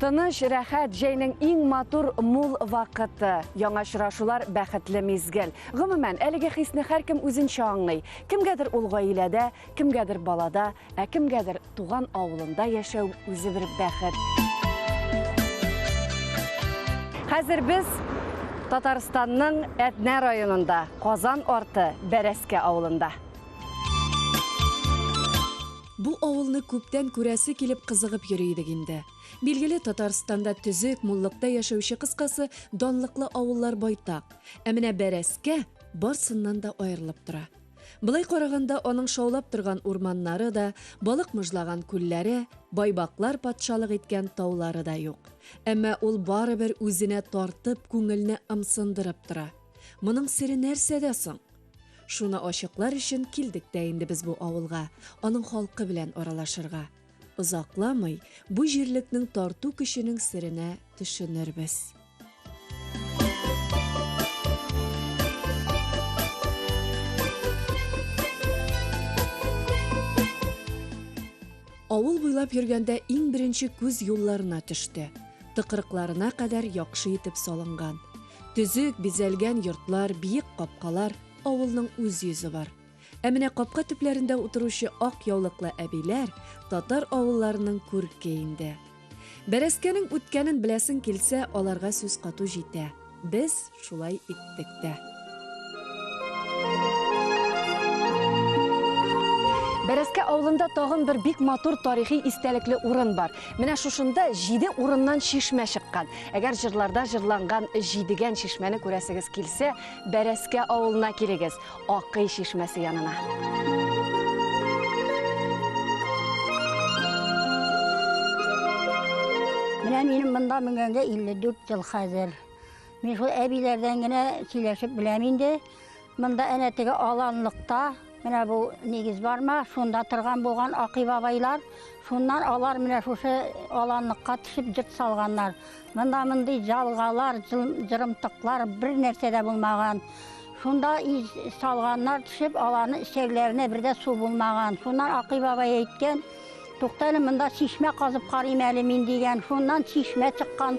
Тыныч, рәхәт, җәйнең иң матур, мул вакыты. Яңа очрашулар, бәхетле мизгел. Гомумән, әлеге хисне һәркем үзенчә аңлый. Кемгәдер ул гаиләдә, кемгәдер балада, Ә кемгәдер туган авылында яшәү үзе бер бәхет. Хәзер без Татарстанның Әтнә районында, Казан арты Бәрәскә авылында. Бу авылны күптән күрәсе килеп кызыгып йөри идек инде. Билгеле, Татарстанда төзек, муллыкта яшәүче кыскасы, данлыклы авыллар байтак. Ә менә Бәрәскә барсыннан да аерылып тора. Болай караганда аның шаулап торган урманнары да, балык мыжлаган күлләре, байбаклар патшалык иткән таулары да юк. Әмма ул барыбер үзенә тартып, күңелне ымсындырып тора. Моның сере нәрсәдә соң? Шуны ачыклар өчен килдек тә инде без бу авылга, аның халкы белән аралашырга. Озакламый бу җирлекнең тарту көченең серенә төшенербез. Авыл буйлап йөргәндә иң беренче күз юлларына төште. Тыкрыкларына кадәр яхшы итеп салынган. Төзек, бизәлгән йортлар, биек капкалар, авылның үз йөзе бар. Ә менә капка төпләрендә утыручы ак яулыклы әбиләр татар авылларының күрке инде. Бәрәскәнең үткәнен беләсең килсә, аларга сүз кату җитә. Без шулай иттек тә. Бәрәскә авылында тагын бер бик матур тарихи истәлекле урын бар. Менә шушында җиде урыннан чишмә чыккан. Әгәр җырларда җырланган җидегән чишмәне күрәсегез килсә, Бәрәскә авылына килегез. Акый чишмәсе янына. Менә минем монда менгәнгә 54 ел хәзер. Мин шул әбиләрдән генә сөйләшеп беләм инде. Монда әнә теге аланлыкта, менә бу нигез барма, шунда торган булган Акый бабайлар. Шуннан алар менә шушы аланлыкка төшеп җырт салганнар. Монда мондый җалгалар, җырымтыклар бер нәрсә дә булмаган. Шунда салганнар төшеп, аларны эчәрләренә бер дә су булмаган. Шуннан Акый бабай әйткән, туктале, монда чишмә казып карыйм әле мин дигән. Шуннан чишмә чыккан.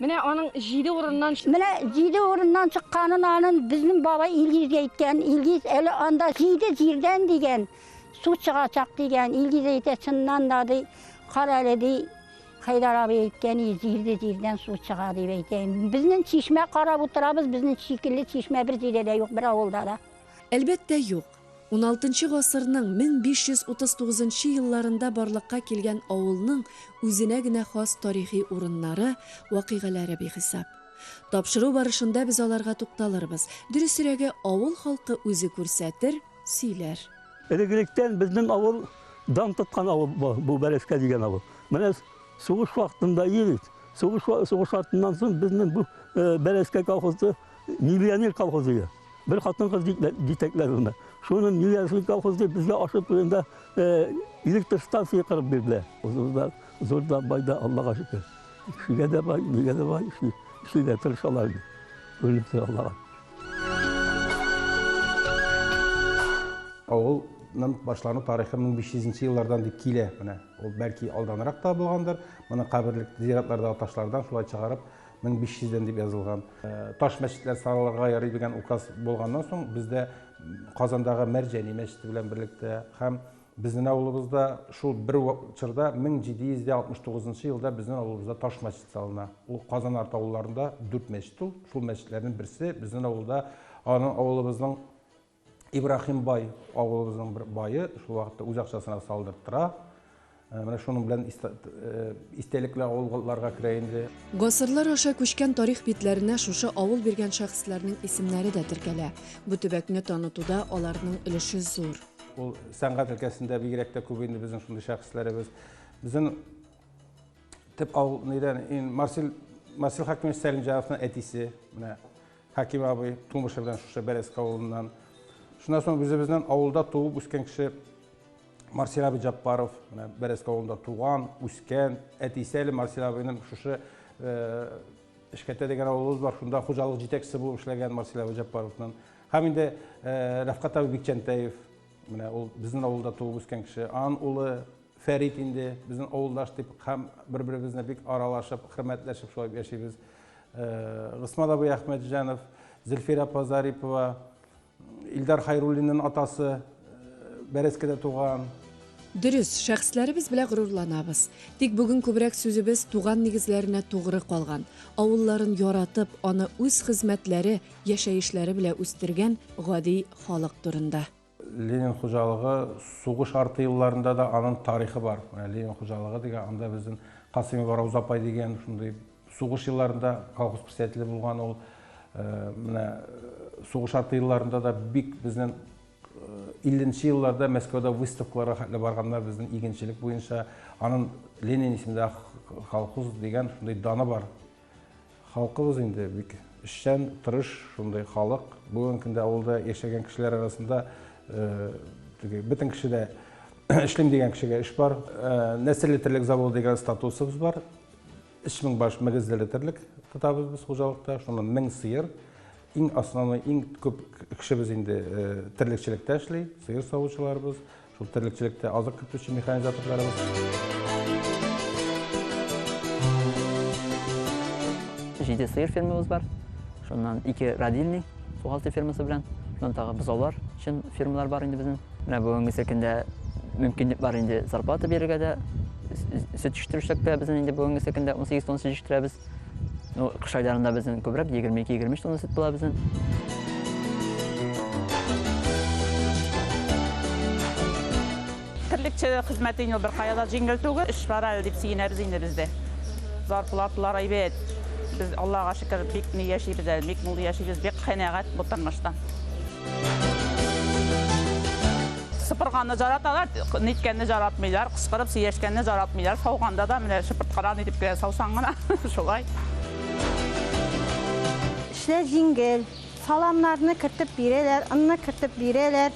Менә аның җиде урыннан чык. Менә җиде урыннан чыкканын анын безнең бабай Илгизгә әйткән. Илгиз әле анда җиде җирдән дигән су чыгачак дигән. Илгиз әйтә, чыннан да ди, кара әле ди, Хәйдар абый әйткән иде, җиде җирдән су чыга дип әйтә. Безнең чишмә карап утырабыз, безнең шикелле чишмә бер җирдә дә юк, бер авылда да. Әлбәттә, юк. Уналтынчы гасырның 1539 елларында барлыкка килгән авылның үзенә генә хас тарихи урыннары, вакыйгаләре бихисап. Тапшыру барышында без аларга тукталырбыз, дөресрәге, авыл халкы үзе күрсәтер, сөйләр. Элек-электән безнең авыл дан тоткан авыл бу, бу Бәрәскә дигән авыл. Менә сугыш вакытында и бит, сугыш артыннан соң безнең бу Бәрәскә колхозы миллионер колхозы иде. Бер хатын-кыз җитәкләр аны. Шуны Миләшли колхоз дип безгә ашып турында электр станция кырып бирделәр. Узда, зурда, байда, Аллага шөкер. Шигә дә бай, нигә дә бай, шигә тырышалар. Күренеп тора Аллага. Авыл ның башлану тарихы 1500 еллардан дип килә. Менә ул бәлки алданрак та булгандыр. Моны каберлек зиратларда ташлардан шулай чыгарып мең биш йөздән дип язылган таш мәчетләр салырга ярый дигән указ булганнан соң бездә казандагы мәрҗәни мәчете белән берлектә һәм безнең авылыбызда шул бер чорда мең җиде йөз дә алтмыш тугызынчы елда безнең авылыбызда таш мәчет салына ул казан арты авылларында дүрт мәчет ул шул мәчетләрнең берсе безнең авылда аның авылыбызның Ибрахим бай, авылыбызның бер бае, шул вакытта үз акчасына салдырттыра. Э, менә шуның белән э, истәлекле авылларга керә инде. Гасырлар аша күчкән тарих битләренә шушы авыл биргән шәхесләрнең исемнәре дә теркәлә. Бу төбәкне танытуда аларның өлеше зур. Ул сәнгать өлкәсендә бигрәк тә күп инде безнең шундый шәхесләребез. Безнең төп авыл нидән? Марсел Марсел Хәкимович Сәлимҗановның әтисе, менә Хәким абый тумышы белән шушы Бәрәске авылыннан. Шуннан соң үзебезнең авылда туып үскән кеше Марсел абый Җаппаров, менә Бәрәске авылында туган, үскән, әтисе әле Марсел абыйның шушы Эшкәтә дигән авылыбыз бар, шунда хуҗалык җитәкчесе булып эшләгән Марсел абый Җаппаровның. Һәм инде Рәфкать абый Бикчәнтәев, менә ул безнең авылда туып үскән кеше, аның улы Фәрит инде безнең авылдаш дип һәм бер-беребезне бик аралашып, хөрмәтләшеп шулай яшибез. Госман абый Әхмәтҗанов, Зөлфирә апа Зарипова, Илдар Хайруллинның атасы Бәрәскедә туган. Дөрес, шәхесләребез белә горурланабыз. Тик бүген күбрәк сүзебез туган нигезләренә тугры калган, авылларын яратып, аны үз хезмәтләре, яшәешләре белә үстергән гади халык турында. Ленин хуҗалыгы сугыш арты елларында да аның тарихы бар. Менә Ленин хуҗалыгы дигән, анда безнең Касыймова Рауза апай дигән шундый сугыш елларында колхоз председателе булган ул. Э, менә э, сугыш арты елларында да бик безнең 50-нче э, елларда Мәскәүдә выставкаларга хәтле барганнар безнең игенчелек буенча. Аның Ленин исемендә колхоз дигән шундый даны бар. Халкыбыз инде бик эшчән, тырыш шундый халык. Бүгенге көндә авылда яшәгән кешеләр арасында теге бөтен кешедә эшлим дигән кешегә эш бар. Нәселле терлек заводы дигән статусыбыз бар. 3000 баш мөгезлеле терлек тотабыз без хуҗалыкта. Шуннан 1000 сыер. Иң основной, иң күп кешебез инде терлекчелектә эшли, сыер савучыларыбыз. Шул терлекчелектә азык кертүче механизаторларыбыз. Җиде сыер фермабыз бар. Шуннан ике родильный, сугалты фермасы белән. Шуннан тагы бозаулар өчен фермалар бар инде безнең. Менә бүгенгесе көндә мөмкинлек бар инде зарплата бирергә дә, сөт җитештерүчелектә безнең инде бүгенгесе көндә 18 тонн сөт җитештерәбез. Ну, кыш айларында безнең күбрәк 22-23 тонна сөт була безнең. Терлекче хезмәте инде бер кая да җиңел түгел. Эш бар әле дип сөенәбез инде без дә. Зарплаталар әйбәт. Без, Аллага шөкер, бик ни яшибез әле, бик мул яшибез, бик канәгать бу тормыштан. Сыпырганны жараталар, ниткәнне жаратмыйлар, кычкырып сөйләшкәнне жаратмыйлар. Сауганда да менә чыбырткадан итеп кенә саусаң гына, шулай. Эшләр җиңел. Саламнарны кертеп бирәләр, онны кертеп бирәләр.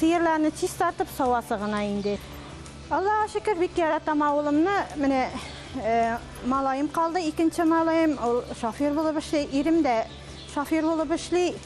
Сыерларны чистартып савасы гына инде. Аллага шөкер, бик яратам авылымны. Менә малаем калды, икенче малаем, ул шофер булып эшли. Ирем дә шофер булып эшли.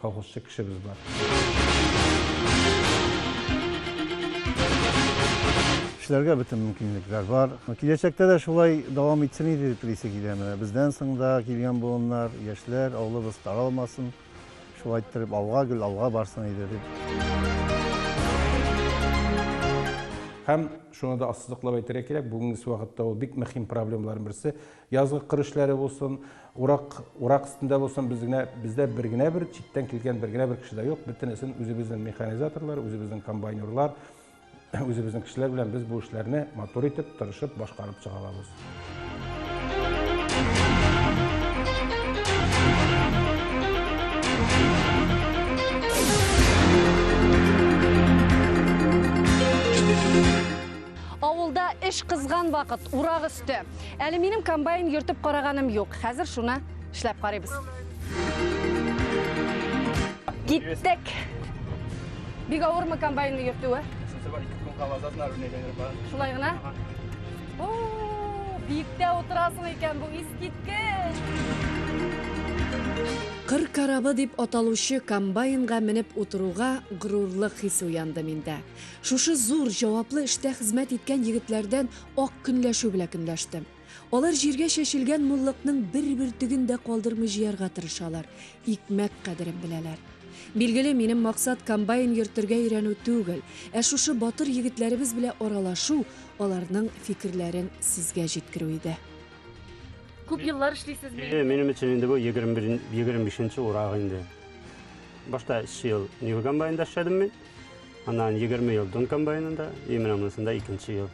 Колхозчы кешебез бар. Эшләргә бөтен мөмкинлекләр бар. Киләчәктә дә шулай дәвам итсен иде дип телисе килә. Менә бездән соң да килгән буыннар, яшьләр, авылыбыз таралмасын. Шулай иттереп алга гел алга барсын иде дип. Һәм шуны да ассызыклап әйтергә кирәк, бүгенге вакытта ул бик мөһим проблемаларның берсе, Язгы кыр эшләре булсын, урак, урак өстендә булсын, без генә, бездә бер генә бер читтән килгән бер генә бер кеше дә юк. Бөтенесен үзебезнең механизаторлар, үзебезнең комбайнерлар, үзебезнең кешеләр белән без бу эшләрне матур итеп, тырышып башкарып чыга алабыз. Авылда эш кызган вакыт, урак өсте. Әле минем комбайн йөртеп караганым юк. Хәзер шуны эшләп карыйбыз. Киттек. Бик авырмы комбайнны йөртүе? Шулай гына? Биектә утырасың икән, бу искиткеч. Кыр корабы дип аталучы комбайнга менеп утыруга горурлык хисе уянды миндә. Шушы зур, җаваплы эштә хезмәт иткән егетләрдән ак көнләшү белә көнләштем. Алар җиргә чәчелгән муллыкның бер бөртеген дә калдырмый җыярга тырышалар, икмәк кадерен беләләр. Билгеле, минем максат комбайн йөртергә өйрәнү түгел, ә шушы батыр егетләребез белә аралашу, аларның фикерләрен сезгә җиткерү иде. Күп еллар эшлисезме? Әйе, минем өчен инде бу 21 25 нче урак инде. Башта 3 ел Нива комбайнда эшләдем мин. Аннан 20 ел дөм комбайнында, и менә монысында икенче ел.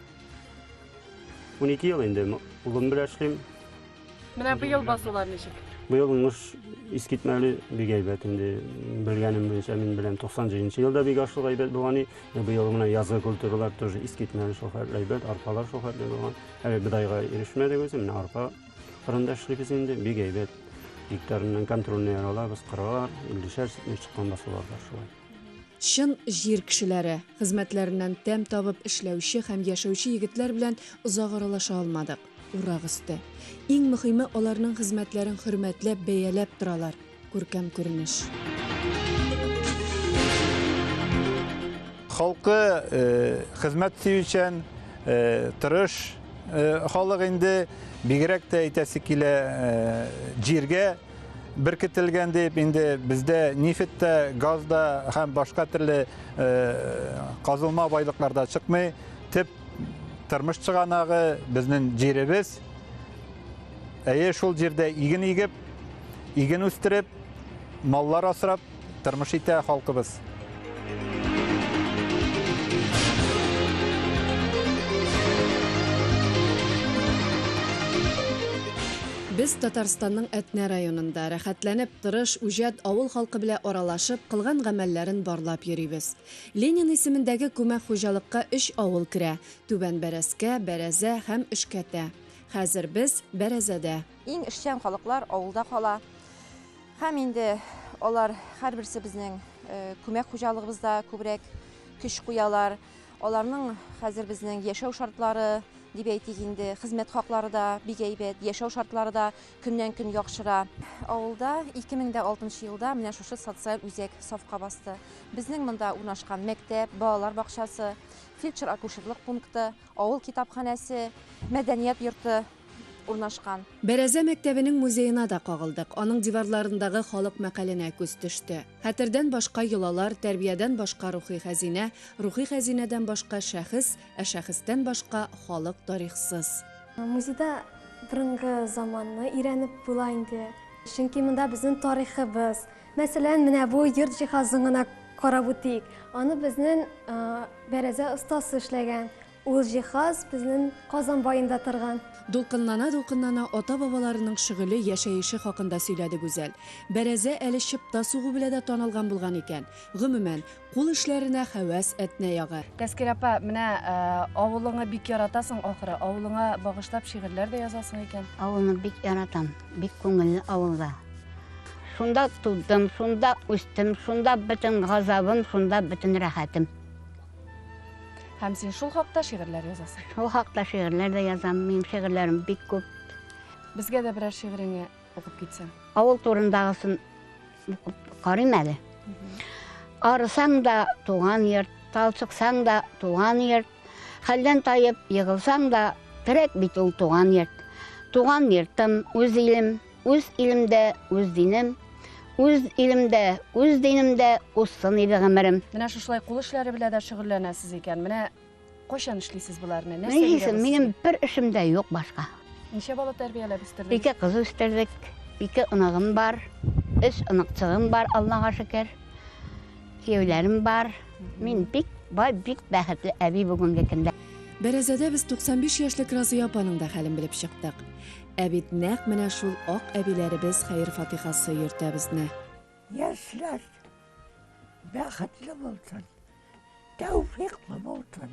12 ел инде улым белән эшлим. Менә быел басулар ничек? Быел уңыш искитмәле бик әйбәт инде. Белгәнем буенча мин беләм 97 елда бик ашлык әйбәт булган и. Быел менә язгы культуралар тоже искитмәле шул хәтле әйбәт, арпалар шул хәтле булган. Әле бидайга ирешмәдек үзе, менә арпа кырында эшлибез инде, бик әйбәт. Гектарыннан контрольный алабыз, кыралар, 50 шәр чыккан басулар бар шулай. Чын җир кешеләре, хезмәтләреннән тәм табып эшләүче һәм яшәүче егетләр белән озак аралаша алмадык. Урак өсте. Иң мөһиме, аларның хезмәтләрен хөрмәтләп, бәяләп торалар. Күркәм күренеш. Халкы э, хезмәт сөючән, э, тырыш э, халык инде. Бигрәк тә әйтәсе килә, э, җиргә беркетелгән дип инде бездә нефть тә, газ да һәм башка төрле казылма байлыклар да чыкмый. Төп тормыш чыганагы безнең җиребез. Әйе, шул җирдә иген игеп, иген үстереп, маллар асрап, Тормыш итә халкыбыз. Без Татарстанның Әтнә районында, рәхәтләнеп, тырыш, үҗәт, авыл халкы белә аралашып, кылган гамәлләрен барлап йөрибез. Ленин исемендәге күмәк хуҗалыкка өч авыл керә, Түбән Бәрәскә, Бәрәзә һәм Өшкәтә. Хәзер без, Бәрәзәдә. Иң эшчән халыклар авылда кала. Һәм инде алар һәрберсе безнең күмәк хуҗалыгыбызда күбрәк көч куялар. Аларның хәзер безнең яшәү шартлары, дип әйтик инде, хезмәт хаклары да бик әйбәт, яшәү шартлары да көннән-көн яхшыра. Авылда 2006 елда менә шушы социаль үзәк сафка басты. Безнең монда урнашкан мәктәп, балалар бакчасы, фельдшер-акушерлык пункты, авыл китапханәсе, мәдәният йорты урнашкан. Бәрәзә мәктәбенең музеена да кагылдык. Аның диварларындагы халык мәкаленә күз төште. Хәтердән башка йолалар, тәрбиядән башка рухи хәзинә, рухи хәзинәдән башка шәхес, ә шәхестән башка халык тарихсыз. Музейда борынгы заманны өйрәнеп була инде. Чөнки монда безнең тарихыбыз. Мәсәлән, менә бу йорт җиһазын гына карап үтик. Аны безнең Бәрәзә остасы эшләгән. Ул җиһаз безнен Казан баенда торган. Дулкынлана-дулкынлана ата-бабаларының шөгыле, яшәеше хакында сөйләде Гүзәл. Бәрәзә әле чыпта сугу белә дә танылган булган икән. Гомумән, кул эшләренә хәвәс әтнә ягы. Тәскир апа, менә авылыңы бик яратасың, ахры, авылыңа багышлап шигырьләр дә язасың икән? Авылны бик яратам, бик күңелле авылда. Шунда тудым, шунда үстем, шунда бөтен газабым, шунда бөтен рәхәтем. Һәм син шул хакта шигырьләр язасың. Шул хакта шигырьләр дә язам. Минем шигырьләрем бик күп. Безгә дә берәр шигыреңне укып китсәң. Авыл турындагысын карыйм әле. Арысаң да туган йорт, талчыксаң да туган йорт, хәлдән таеп егылсаң да, терәк бит ул туган йорт. Туган йортым, үз илем, Үз илемдә, үз динем, үз илемдә, үз динемдә узсын иде гомерем. Менә шушылай кул эшләре белән дә шөгыльләнәсез икән. Менә кайчан эшлисез боларны? Нәрсә Нигезем, минем бер эшем дә юк башка. Ничә бала тәрбияләп үстердегез? Ике кыз үстердек, ике оныгым бар, өч оныкчыгым бар, Аллага шөкер. Кияүләрем бар. Мин бик бай, бик бәхетле әби бүгенге көндә. Бәрәзәдә без 95 яшьлек Разыя апаның да хәлен белеп чыктык. Ә бит нәкъ менә шул ак әбиләребез хәер-фатихасы йөртә безне. Яшьләр бәхетле булсын, тәүфиклы булсын.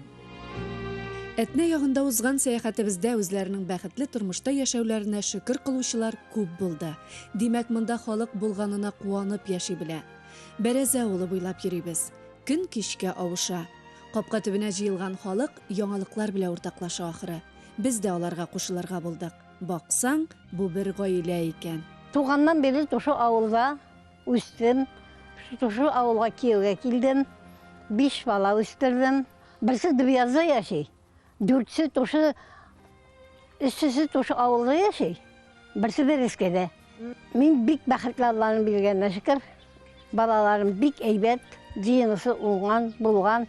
Әтнә ягында узган сәяхәтебездә үзләренең бәхетле тормышта яшәүләренә шөкер кылучылар күп булды. Димәк, монда халык булганына куанып яши белә. Бәрәзә авылы буйлап йөрибез. Көн кичкә авыша. Капка төбенә җыелган халык яңалыклар белә уртаклаша ахры. Без дә аларга кушылырга булдык. Баксаң, бу бер гаилә икән. Туганнан бирле тушы авылда үстем. Тушы авылга кияүгә килдем. Биш бала үстердем. Берсе Дубъязда яши. Дүртесе тушы, өчесе тушы авылда яши. Берсе Бәрәскәдә. Мин бик бәхетле Алланың биргәненә шөкер. Балаларым бик әйбәт, җыенысы уңган, булган.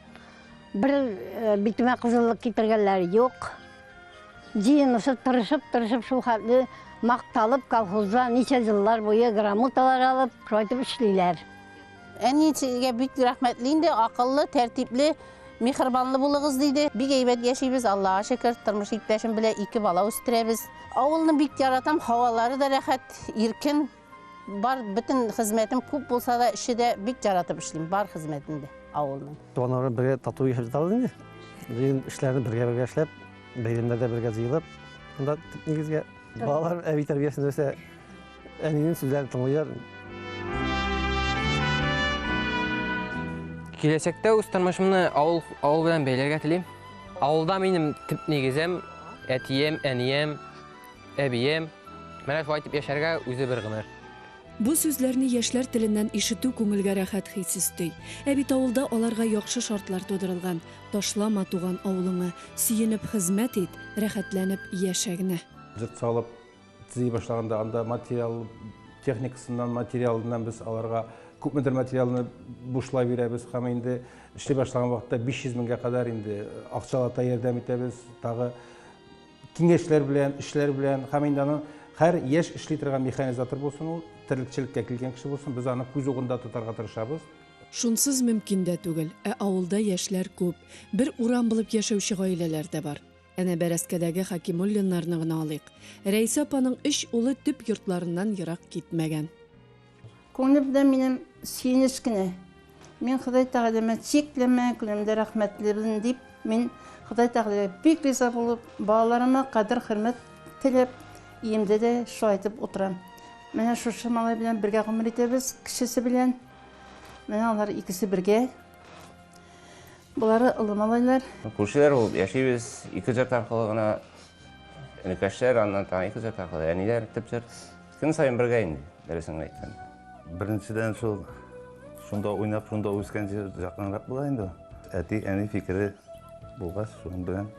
Бер э, битемә кызыллык китергәннәре юк. Җыенысы тырышып-тырышып шул хәтле макталып колхозда ничә еллар буе грамоталар алып, шулайтып эшлиләр. Әниегә бик рәхмәтле инде, акыллы, тәртипле, мехрибанлы булыгыз диде. Бик әйбәт яшибез, Аллага шөкер, тормыш иптәшем белән ике бала үстерәбез. Авылны бик яратам, һавалары да рәхәт, иркен. Бар бөтен хезмәтем күп булса да, эше дә бик яратып эшлим, бар хезмәтен дә авылның. Туганнарым бергә тату яшәп җитабыз инде. Җыен эшләрне бергә-бергә эшләп, бәйрәмнәрдә бергә җыелып, монда нигезгә балалар әби тәрбиясендә үсә. Әнинең сүзләрен тыңлыйлар. Киләчәктә үз тормышымны авыл, авыл белән бәйләргә телим. Авылда минем төп нигезем, әтием, әнием, әбием. Менә шулай итеп яшәргә үзе бер гомер. Бу сүзләрне яшьләр теленнән ишетү күңелгә рәхәт хис өсти. Ә бит авылда аларга яхшы шартлар тудырылган. Ташлама туган авылыңы, сөенеп хезмәт ит, рәхәтләнеп яшә генә. Җыр салып, Төзи башлаганда анда материал техникасыннан, материалыннан без аларга күпмедер материалны бушлай бирәбез һәм инде эшли башлаган вакытта 500 меңгә кадәр инде акчалата ярдәм итәбез. Тагы киңәшләр белән, эшләр белән һәм инде аны һәр яшь эшли торган механизатор булсын ул, терлекчелеккә килгән кеше булсын, без аны күз угында тотарга тырышабыз. Шунсыз мөмкин дә түгел. Ә авылда яшьләр күп. Бер урам булып яшәүче гаиләләр дә бар. Әнә бәрәскәдәге Хәкимуллиннарны гына алыйк. Рәйсә апаның өч улы төп йортларыннан ерак китмәгән. Күңелемдә минем сөенеч кенә. Мин Ходай Тәгаләмә чикләмә күләмдә рәхмәтлебен, дип, мин Ходай Тәгаләгә бик риза булып, балаларыма кадер-хөрмәт теләп, өемдә дә шулай әйтеп утырам. Менә шушы малай белән бергә гомер итәбез, кечесе белән. Менә алар икесе бергә. Болары олы малайлар. Күршеләр булып яшибез. Ике зат аркылы гына энекәшләр, аннан тагын ике зат аркылы әниләр, төп зат. Көн саен бергә инде, дөресен генә әйткәндә. Беренчедән шул шунда уйнап, шунда үскән җир якынрак була инде. Әти, әни фикере булгач, шуның белән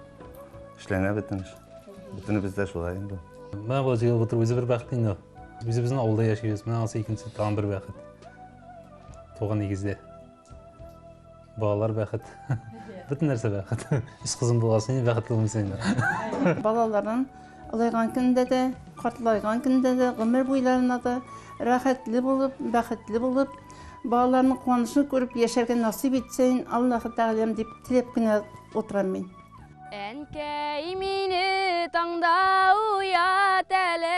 эшләнә бөтен эш. Бөтенебез дә шулай инде. Менә бу җыелып утыру үзе бер бәхет инде. Үзебезнең авылда яшибез. Менә анысы икенче тагын бер бәхет. Туган нигездә. балалар бәхет бөтен нәрсә бәхет өч кызым булган сен бәхетле булмыйсың инде балаларың олайган көндә дә картлайган көндә дә гомер буйларына да рәхәтле булып бәхетле булып балаларның куанышын күреп яшәргә насыйп итсен аллаһы тәгаләм дип теләп кенә утырам мин әнкәй мине таңда уят әле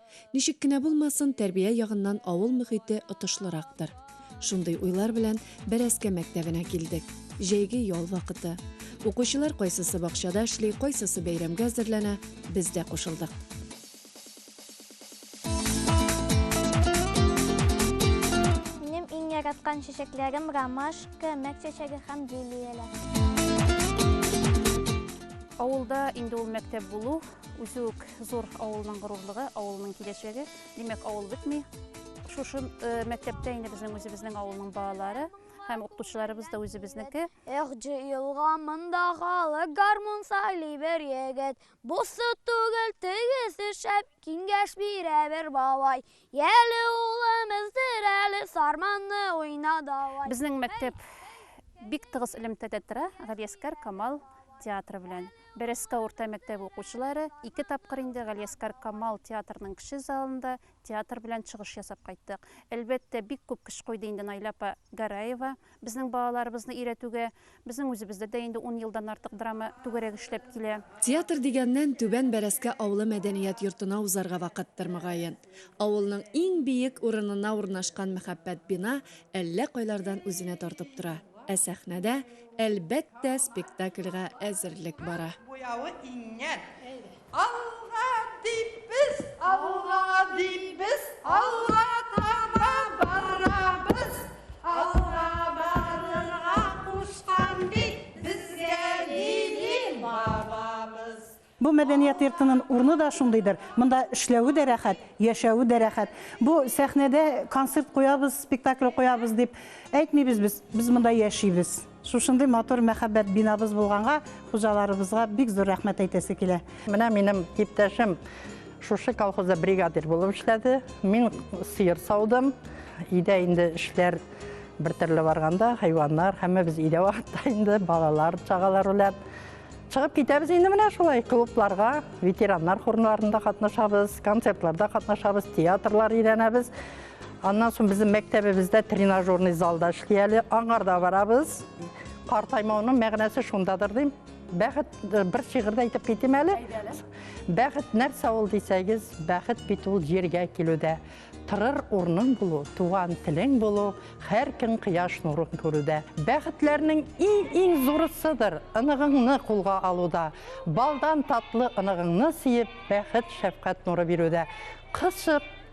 Ничек кенә булмасын, тәрбия ягыннан авыл мөхите отышлырактыр. Шундый уйлар белән Бәрәскә мәктәбенә килдек. Җәйге ял вакыты. Укучылар кайсысы бакчада эшли, кайсысы бәйрәмгә әзерләнә, без дә кушылдык. Минем иң яраткан чәчәкләрем ромашка, мәк чәчәге һәм лилияләр. Авылда инде ул мәктәп булу, Үзе үк зур авылның горурлыгы, авылның киләчәге. Димәк, авыл бетми. Шушы э, мәктәптә инде безнең үзебезнең авылның балалары һәм укытучыларыбыз да үзебезнеке. Эх, җыелга монда халык гармун сайли бер егет. Бусы түгел тегесе шәп, киңәш бирә бер бабай. Яли улым эздер әле сарманны уйна давай. Безнең мәктәп бик тыгыз элемтәдә тора Галиәскар Камал театры белән. Бәрәскә урта мәктәбе укучылары ике тапкыр инде Галиәскар Камал театрының кеше залында театр белән чыгыш ясап кайттык. Әлбәттә, бик күп көч куйды инде Найла апа Гараева. Безнең балаларыбызны өйрәтүгә безнең үзебездә дә инде ун елдан артык драма түгәрәк эшләп килә. Театр дигәннән, Түбән Бәрәскә авылы мәдәният йортына узарга вакыттыр, мөгаен. Авылның иң биек урынына урнашкан мәхәббәт бина әллә кайлардан үзенә тартып тора. Ә сәхнәдә, әлбәттә, спектакльгә әзерлек бара. Буявы иңгән. Алга дип без, алга дип без, алга таба барабыз. Алга барырга кушкан бит безгә Лили бабабыз. Бу мәдәният йортының урыны да шундыйдыр, монда эшләве дә рәхәт, яшәве дә рәхәт. Бу сәхнәдә концерт куябыз, спектакль куябыз дип әйтмибез без, без монда яшибез. Шушындый матур мәхәббәт бинабыз булганга, хуҗаларыбызга бик зур рәхмәт әйтәсе килә. Менә минем иптәшем шушы колхозда бригадир булып эшләде. Мин сыер саудым. Өйдә инде эшләр бер төрле барганда, хайваннар, һәммәбез өйдә вакытта инде балалар, чагалар белән чыгып китәбез инде менә шулай клубларга, ветераннар хорнарында катнашабыз, концертларда катнашабыз, театрлар өйрәнәбез. Аннан соң безнең мәктәбебездә тренажерный зал да эшли әле. Аңарда барабыз. Картаймауның мәгънәсе шундадыр дим. Бәхет э, бер шигырьдә әйтеп китим әле. Бәхет нәрсә ул дисәгез, бәхет бит ул җиргә килүдә. Тырыр урның булу, туган телең булу, һәр көн кояш нурын күрүдә. Бәхетләрнең иң-иң зурысыдыр ыныгыңны кулга алуда. Балдан татлы ыныгыңны сиеп, бәхет шәфкать нуры бирүдә. Кысып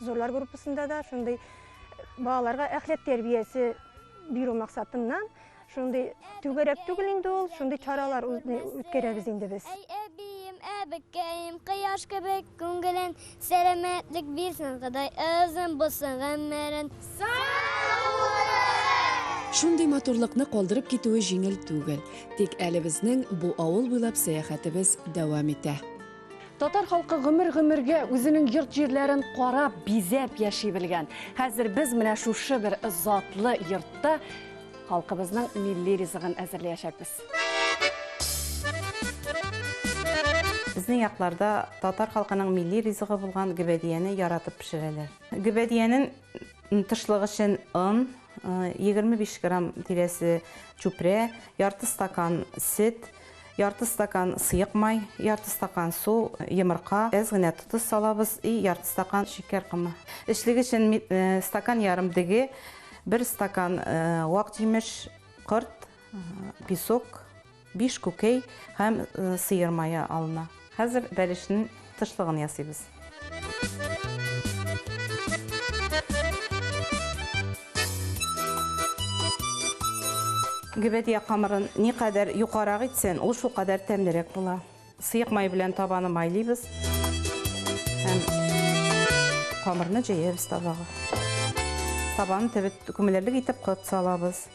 Зурлар группасында да шундый балаларга әхләк тәрбиясе бирү максатыннан шундый түгәрәк түгел инде ул, шундый чаралар үткәрәбез инде без. Әй әбием, әбекәем, кояш кебек күңелен, сәламәтлек бирсен Ходай озын булсын гомерен. Шундый матурлыкны калдырып китүе җиңел түгел. Тик әле безнең бу авыл буйлап сәяхәтебез дәвам итә. Татар халкы гомер-гомергә үзенең йорт-җирләрен карап, бизәп яши белгән. Хәзер без менә шушы бер затлы йортта халкыбызның милли ризыгын әзерләячәкбез. Безнең якларда татар халкының милли ризыгы булган гөбәдияне яратып пешерәләр. Гөбәдиянен Тышлык өчен он, 25 грамм тирәсе чүпрә, ярты стакан сөт, ярты стакан сыек май, ярты стакан су, йомырка, әз генә тотыз салабыз и ярты стакан шикәр комы. Эчлек өчен стакан ярым деге, бер стакан вак җимеш, корт, песок, Биш күкәй һәм сыер мае алына. Хәзер бәлешнең тышлыгын ясыйбыз. Гөбәдия камырын никадәр юкарак итсен, ул шулкадәр тәмлерәк була. Сыек май белән табаны майлыйбыз һәм камырны җәябез табага. Табаны төбе күмелерлек итеп кот салабыз.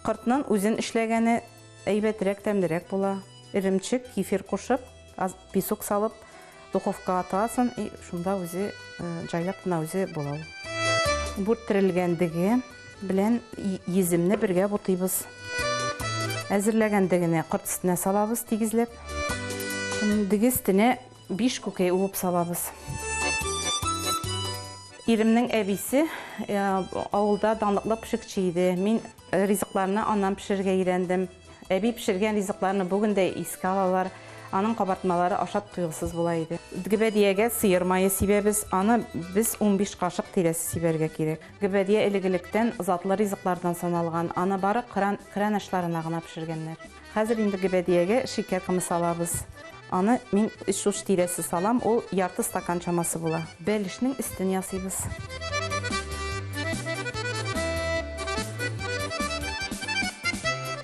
Кортнын үзен эшләгәне әйбәтрәк тәмлерәк була. Эремчек, кефир кушып, аз песок салып, духовка атасың и шунда үзе җайлап кына үзе була ул. Бүрт терелгәндеге белән йөземне бергә бутыйбыз. Әзерләгәндегене корт өстенә салабыз тигезләп. Диге өстенә Биш күкәй уып салабыз. Иремнең әбисе авылда данлыклы пешекче иде. Мин ризыкларны аннан пешерергә өйрәндем. Әби пешергән ризыкларны бүген дә искә алалар. Аның кабартмалары ашап туйгысыз була иде. Гөбәдиягә сыер мае сибәбез. Аны без унбиш кашык тирәсе сибәргә кирәк. Гөбәдия элек-электән затлы ризыклардан саналган. Аны бары кран ашларына гына пешергәннәр. Хәзер инде гөбәдиягә шикәр комы салабыз. Аны мин өч уч тирәсе салам, ул ярты стакан чамасы була. Бәлешнең өстен ясыйбыз.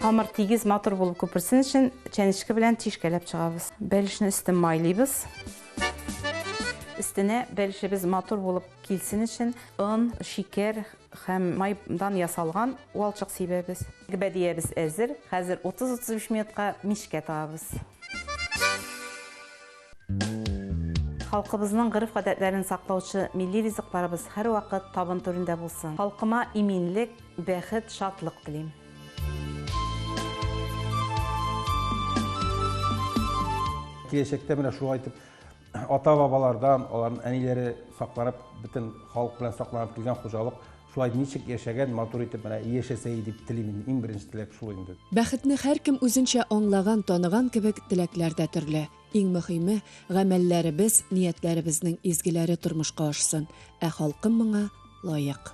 Камыр тигез, матур булып күперсен өчен чәнечке белән тишкәләп чыгабыз. Бәлешне өстен майлыйбыз. Өстенә бәлешебез матур булып килсен өчен он, шикәр, Һәм май дан ясалган валчык сибәбез. Гбәдиябез әзер, хәзер 30-35 минутка мичкә тагабыз. Халкыбызның гореф-гадәтләрен саклаучы милли ризыкларыбыз һәрвакыт табын түрендә булсын. Халкыма иминлек, бәхет, шатлык телим. Киләчәктә менә шулай итеп. Ата-бабалардан, аларның әниләре сакланып, бөтен халык белән сакланып килгән хуҗалык шулай ничек яшәгән, матур итеп менә яшәсә иде дип телим инде. Иң беренче теләк шул инде. Бәхетне һәркем үзенчә аңлаган, таныган кебек, теләкләр дә төрле. Иң мөһиме, гамәлләребез, ниятләребезнең изгеләре тормышка ашсын, ә халкым моңа лаек.